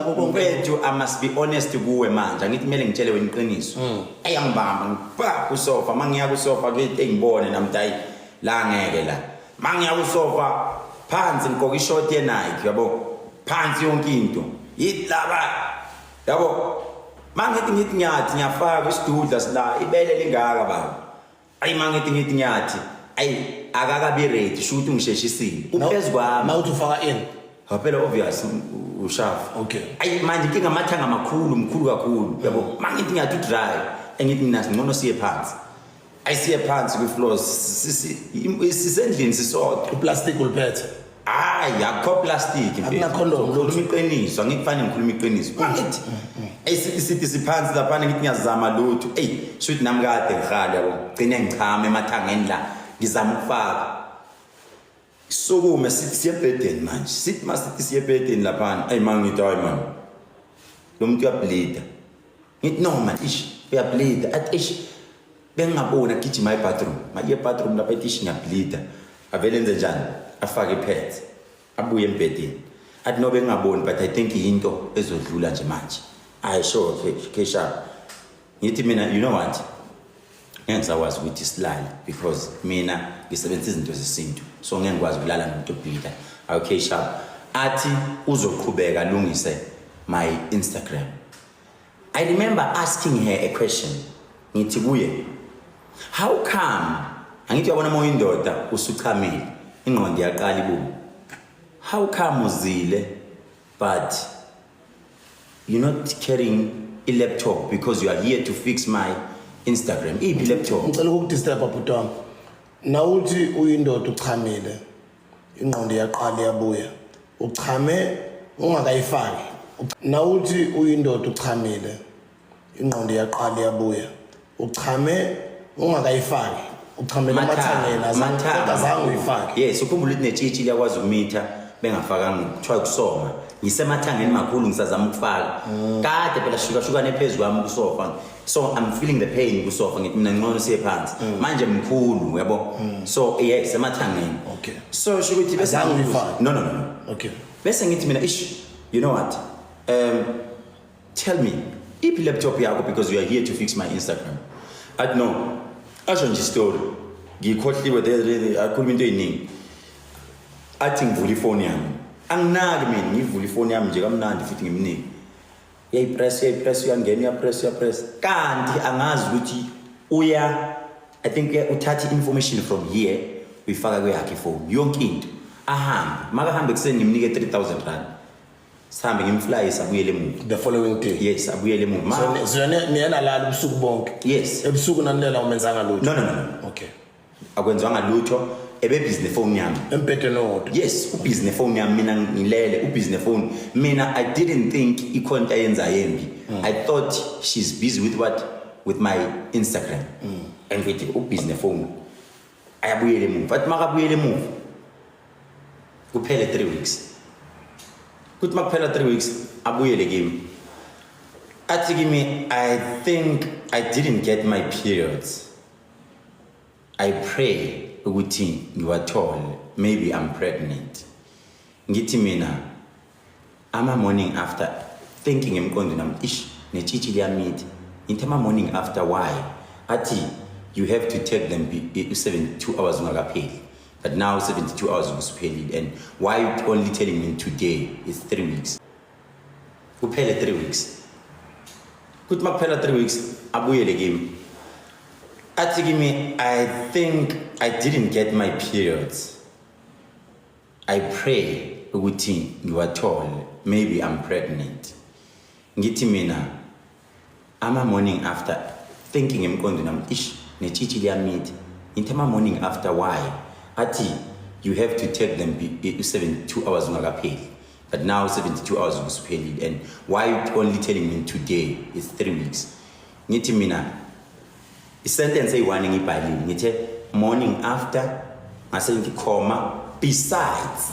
Mfethu I must be honest kuwe manje angithi kumele ngitshele wena iqiniso. Mm. Ayangibamba ngiba kusofa mangiya kusofa kuthi engibone namdayi la ngeke la. Mangiya kusofa phansi ngigqoka ishort ye Nike yabo. Phansi yonke into. Yilaba. Yabo. Mangithi ngithi ngiyathi ngiyafaka isidudla sila ibele lingaka baba. ayi mangithi ngithi ngiyathi ayi akakabi ready shuthi ungisheshisile uphezu kwami mawuthi ufaka in phela obvious ushafa okay ayi manje inkinga amathanga amakhulu mkhulu kakhulu yabo mangithi ngiyathi udrive engithi mina ngcono siye phansi ayisiye phansi kwi-floors sisendlini sisodwa uplastic uliphethe hayi akho plastic Akuna condom, ngikhuluma lutho. iqiniso angikufani ngikhuluma iqiniso Angithi. Isi- isithi siphansi laphana ngithi ngiyazama lutho eyi shuthi nami kade ngihali yabo gcine ngichama emathangeni la ngizama ukufaka sukume sithi siyebhedeni manje sithi masithi siyebhedeni laphana eyi mangithi hayi mani lo muntu uyablida ngithi no man ish uyableeda athi ish bengingaboni agijima ebathroom maye ebathroom lapha ethi ish ngiyableeda avele enze njani afake ipads abuye embhedeni athi no bengingaboni but i think yinto ezodlula nje manje i sure okay kesha ngithi mina you know what ngeke ngisakwazi ukuthi silale because mina ngisebenzisa izinto zesintu so ngeke ngikwazi ukulala nomuntu obhida okay sharp athi uzoqhubeka alungise my instagram I remember asking her a question ngithi kuye how come angithi yabona uma uyindoda usuchamile ingqondo iyaqala ibume how come uzile but you're not carrying a laptop because you are here to fix my Instagram iphi laptop ngicela ukukudisturb bhuti wami nawuthi uyindoda uchamile ingqondo iyaqala iyabuya uchame ungakayifaki nawuthi uyindoda uchamile ingqondo iyaqala iyabuya uchame ungakayifaki uchamele amathangeni azange azange uyifake yes ukhumbula ukuthi netshitshi liyakwazi ukumitha bengafakanga kuthiwa kusoma ngisemathangeni makhulu ngisazama ukufaka mm. kade phela shukahlukane phezu kwami kusofa so i'm feeling the pain kusofa ngithi mina ngcono siye phansi mm. manje mkhulu uyabo mm. so yes emathangeni okay so sho ukuthi bese no no no okay bese ngithi mina ish you know what um tell me iphi laptop yakho because you are here to fix my instagram i don't know asho nje story ngikhohliwe there akhuluma into eyiningi athi ngivula ifoni yami anginaki mina ngivula ifoni yami nje kamnandi futhi ngimnike uyayipress uyayipress uyangena uyapress uyapress kanti angazi ukuthi uya i think uthatha i-information from here uyifaka kweyakhe ifoni yonke into ahambe makahambe kuseni ngimnike 3000 rand sihambe ngimflyisa abuyele emuva the following day yes abuyele emuva so niyena lala ubusuku bonke yes ebusuku nanilela umenzanga lutho no no no okay akwenzwanga lutho ebebhizi nefoni yami embhedeni owodwa yes ubhizi nefoni yami mina ngilele ubhizi nefoni mina i didn't think ikhona into ayenzayo embi mm. i thought she's busy with what with my instagram mm. and ngithi ubhizi nefoni ayabuyela emuva athi makabuyela emuva kuphele three weeks kuthi makuphela three weeks abuyele kimi athi kimi i think i didn't get my periods I pray ukuthi ngiwathole maybe I'm pregnant ngithi mina ama morning after thinking emqondo nami ish netshitshi liyamithi ngithi ama morning after why athi you have to take them 72 hours ungakapheli but now 72 hours usuphelile and why you only telling me today is 3 weeks kuphele 3 weeks kuthi makuphela 3 weeks abuyele kimi athi kimi i think i didn't get my periods i pray ukuthi ngiwathole maybe i'm pregnant ngithi mina Ama morning after thinking emqondo nami ish netshitshi liyamitha. Ngithe ama morning after why? Athi you have to take them be- i- 72 hours ungakapheli. But now 72 hours ubusuphelile and why you only telling me today it's 3 weeks. Ngithi mina isentence eyi-one ngiyibhalile ngithe morning after ngase ngikhoma besides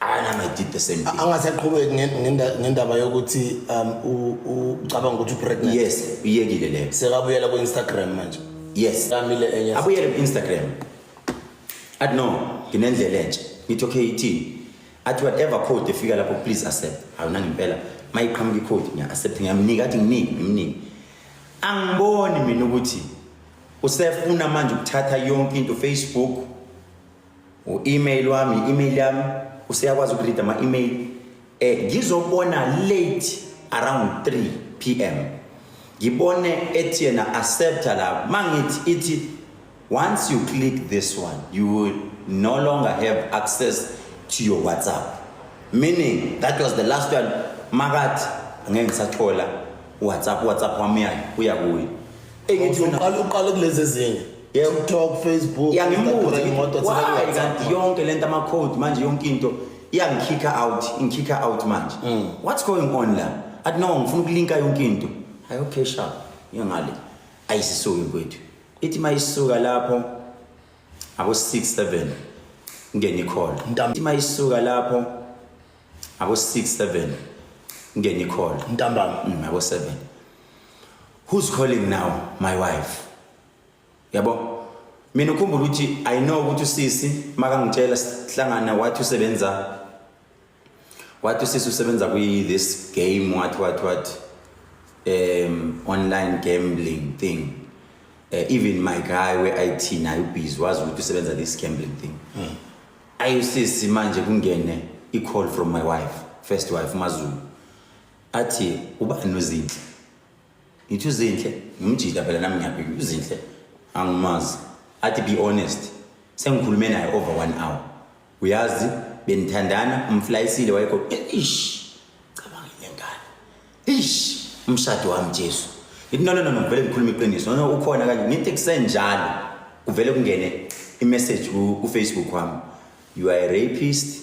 anami i did the same thing angasaqhubeki nge- ngenda- ngendaba yokuthi um u- u- ucabanga ukuthi upregnant yes uyekile leyo sekabuyela ku-instagram manje yes kamile enye abuyele ku-instagram athi no nginendlela entsha ngithi okay ithini athi whatever code efika lapho please accept hawu nangimpela uma iqhamuka icode ngiya-accept ngiyamnika athi nginingi ngimningi angiboni mina ukuthi usefuna manje ukuthatha yonke into facebook u-email wami i-email yami useyakwazi ukurida ama-email um eh, ngizobona late around 3 p m ngibone ethi yena accepta la ma ngithi ithi once you click this one you will no longer have access to your whatsapp meaning that was the last one makathi angeke ngisathola whatsapp whatsapp wami yayo uya kuyo engithi wena uqala uqala kulezi ezinye Yeah. TikTok, Facebook, yangimbuza imoto why kanti yonke lento ama code manje yonke into iyangikhikha out ingikhikha out manje mm. what's going on la athi no ngifuna ukulinka yonke into hayi okay sharp ngale ayisisuki kwethu ithi mayisuka lapho abo 6 7 ngene call ithi mayisuka lapho abo 6 7 ngene call ntambama mm, abo 7 who's calling now my wife yabo mina ukhumbula ukuthi i know ukuthi usisi makangitshela sihlangana wathi usebenza wathi usisi usebenza kwi this game wathi wathi wathi um online gambling thing uh, even my guy we IT naye ubhizi wazi ukuthi usebenza this gambling thing mm. ayusisi manje kungene i call from my wife first wife mazulu athi ubani uzinhle ngithi uzinhle ngimjida phela nami ngiyabika uzinhle angimazi athi be honest sengikhulume naye over one hour uyazi benithandana umflayisile wayekho ish cabanga le ngane ish umshado wami jesu ngithi nona nona ngivele ngikhuluma iqiniso nona ukhona kanje ngithi kusenjalo kuvele kungene imessage kufacebook wami you are a rapist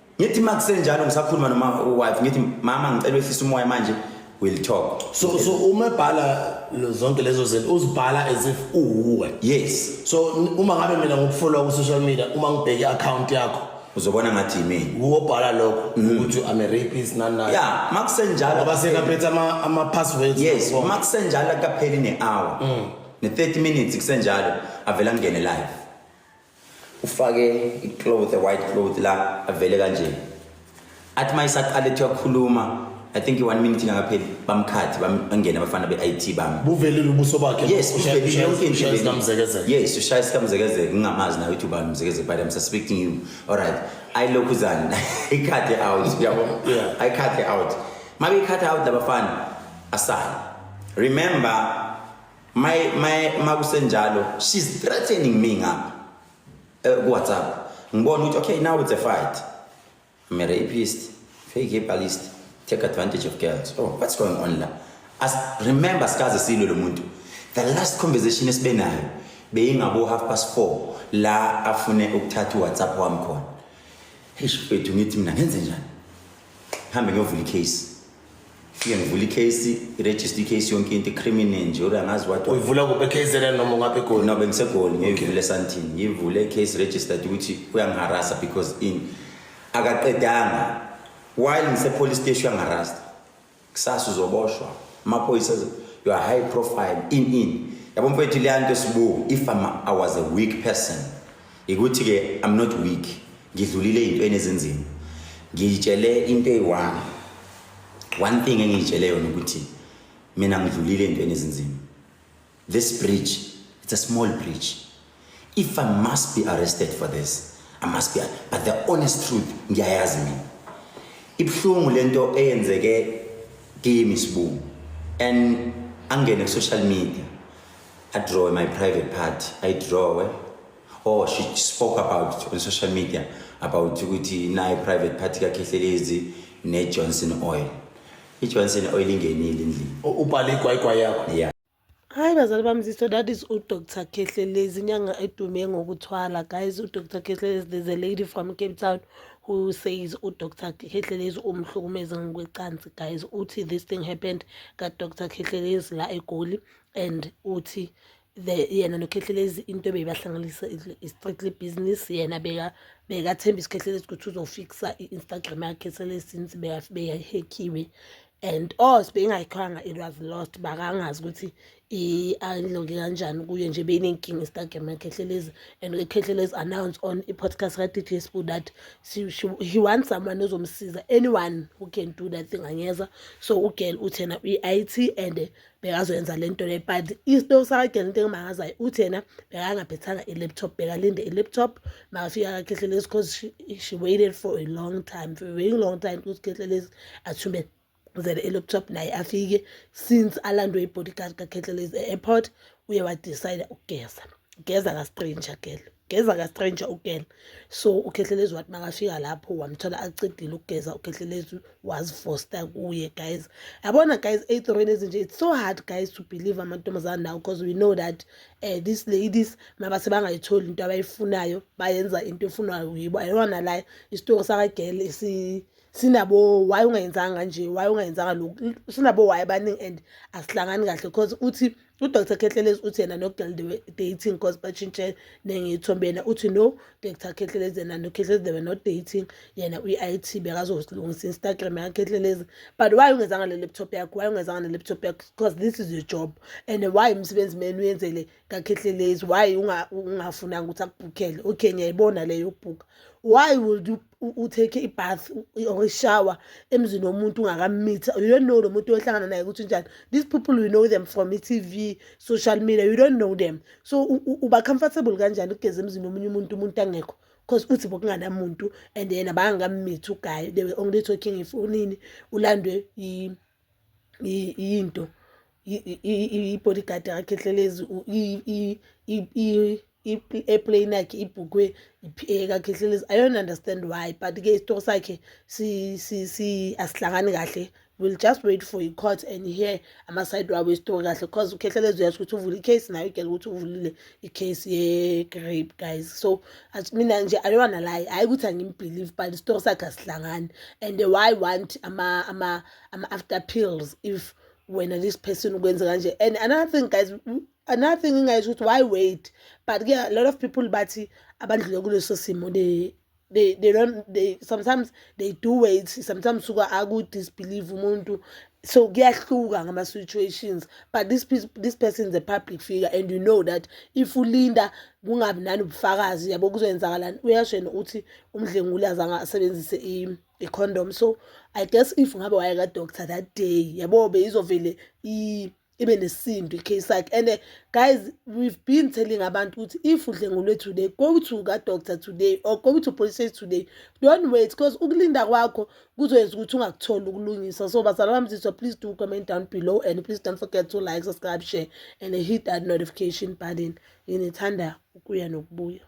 ngithi uma kusenjalo ngisakhuluma noma wife ngithi mama ngicela wehlisa umoya manje will talk so so uma ebhala zonke lezo zinto uzibhala as if uwuwe yes so uma ngabe mina ngokufollowa ku social media uma ngibheke account yakho uzobona ngathi yimini wobhala lokho mm-hmm. ukuthi i'm a rapist nani nani yeah makusenjalo ngoba sekaphethe ama ama passwords yes makusenjalo kapheli ne hour mm. ne 30 minutes kusenjalo avela ngene live ufake icloth white cloth la avele kanje athi uma isaqala ethi uyakhuluma i think i-one minute ingakapheli bamkhathi bangene abafana be-it bami buvelile ubuso bakhe yes uvelile yonke into yes ushaya isikamzekezeke ngingamazi nawe ukuthi ubani umzekezeke but i'm suspecting you all right ayilokhu zani ikhathe out yabo ayikhathe out mabe ikhathe out labafana asale remember my my makusenjalo she's threatening me ngapha eh, ku WhatsApp ngibona ukuthi okay now it's a fight I'm a rapist fake herbalist take advantage of girls oh what's going on la as remember sikaze silwe lo muntu the last conversation esibe nayo beyingabo half past 4 la afune ukuthatha uWhatsApp wami khona hey shifethu ngithi mina ngenze njani hambe ngiyovula icase Fike ngivula i-case, i-register i-case yonke into, i-criminal nje, uri angazi what. uyivula kuphi ekhezela noma ungaphi egoli No, bengisegoli, ngiyivule esantini. Ngiyivule i-case registered ukuthi uyangiharasa because in. Akaqedanga. While ngise-police station uyangiharasa. Kusasa uzoboshwa. Amaphoyisa, azo- you are high profile, in, in. Yabo mfethu leya nto sibuku, if I'm, I was a weak person, Ikuthi ke I'm not weak. Ngidlulile into enezinzima. Ngiyitshele into eyi-one. One thing engiyitshele yona ukuthi mina ngidlulile into enezinzima. This bridge, it's a small bridge. If I must be arrested for this, I must be. But the honest truth ngiyayazi mina. Ibuhlungu lento eyenzeke kimi sibungu and angene ku social media I draw my private part. I draw. Eh? Oh, she spoke about it on social media about ukuthi naye private party kakhehlelezi ne Johnson Oil. I Johnson Oil ingenile endlini. Ubhale igwayigwa yakho. Yeah. Hayi bazali bami ziso that is uDr Khehlelezi inyanga edume ngokuthwala guys uDr Khehlelezi there's a lady from Cape Town who says uDr Khehlelezi umhlukumeze ngokwecansi guys uthi this thing happened kaDr Khehlelezi la eGoli and uthi the yena noKhehlelezi into ebeyibahlanganisa i-strictly business yena beka bekathemba isikhehlelezi ukuthi uzofixa i-instagram yakhe sele since beyahekhiwe and or sibeyingayikhoyanga it was lost bakangazi ukuthi i-unloke kanjani kuye nje beyinenkinga instagram yakhehlelezi and ukhehlelezi announce on i-podcast ka-dj sbu that she, she, he wants someone ozomsiza anyone who can do that thing angeza so ugirl uthena uyi-it and bekazoyenza le nto le but isto sakhe lento engimangazayo uthi yena bekangaphethanga i-laptop bekalinde i-laptop makafika kakhehlelezi because she, she waited for a long time for a very long time ukuthi khehlelezi athume zele i-laptop naye afike since alandwe i-bodyguard kakhehlelezi e-airport uye wadecide ukugeza geza kastranger gelo geza ka stranger ugena so ukhehlelezi wathi makafika lapho wamthola acedile ukugeza ukhehlelezi wazifosta kuye guys yabona guys ey'torweni ezinje it's so hard guys to believe amantombazane nawo because we know that uh, these ladies mabase bangayitholi into abayifunayo bayenza into efunwayo yibo ayona la isitori sakagele si sinabo why ungayenzanga kanje why ungayenzanga lokhu sinabo why abaningi and asihlangani kahle because uthi UDr Khehlelezi uthi yena noGirl they were dating cause batshintshe nengiyithombe yena uthi no Dr Khehlelezi yena noKhehlelezi they were not dating yena uyi-IT bekazolungisa Instagram yaKhehlelezi but why ungezanga ne-laptop yakho why ungezanga ne-laptop yakho because this is your job and why umsebenzi meni uyenzele kaKhehlelezi why ungafunanga ukuthi akubhukhele okay ngiyayibona leyo yokubhukha why would you utake ibath or ishower emzini womuntu ungakammitha you don't know lo muntu ohlangana naye ukuthi unjani these people you know them from i-tv social media you don't know them so uba comfortable kanjani ukugeza emzini womunye umuntu umuntu angekho because uthi bokunganamuntu and yena bangakammithi ugayi they were only talking if unini ulandwe into i-bodyguard yakhe hlelezi i-airplane yakhe ibhukwe iphiyeka khe hlelezi i don't understand why but-ke isitori sakhe asihlangani kahle will just wait for i-court and hear amasayidi wabo esitori kahle cause ukhehlelezi uyasho ukuthi uvule i-case nayo igele ukuthi uvulile. icase ye-grape guys so mina nje i don't wanna lie hhayi ukuthi angimbelieve but isitori sakhe asihlangani and why want ama-after ama pills if wena this person ukwenze kanje and another thing guys another thing engingayisho ukuthi why wait but ke a lot of people bathi abandlule kuleso simo they they don't they sometimes they do wait sometimes suka aku disbelieve umuntu so kuyahluka ngama situations but this this person is a public figure and you know that if ulinda kungabi nani ubufakazi yabo kuzoyenzakalani uyasho yena uthi umdlenguli azange asebenzise i condom so i guess if ngabe wayeka doctor that day yabo beyizovele i ibe nesintu icase yakhe and eh, guys we've been telling abantu ukuthi if udlengulwe today go to kadoctor today or go to police station today don't wait because ukulinda kwakho kuzoyenza ukuthi ungakutholi ukulungisa so bazala bami zizwa please do comment down below and please don't forget to like subscribe share and hit that notification button nginithanda ukuya nokubuya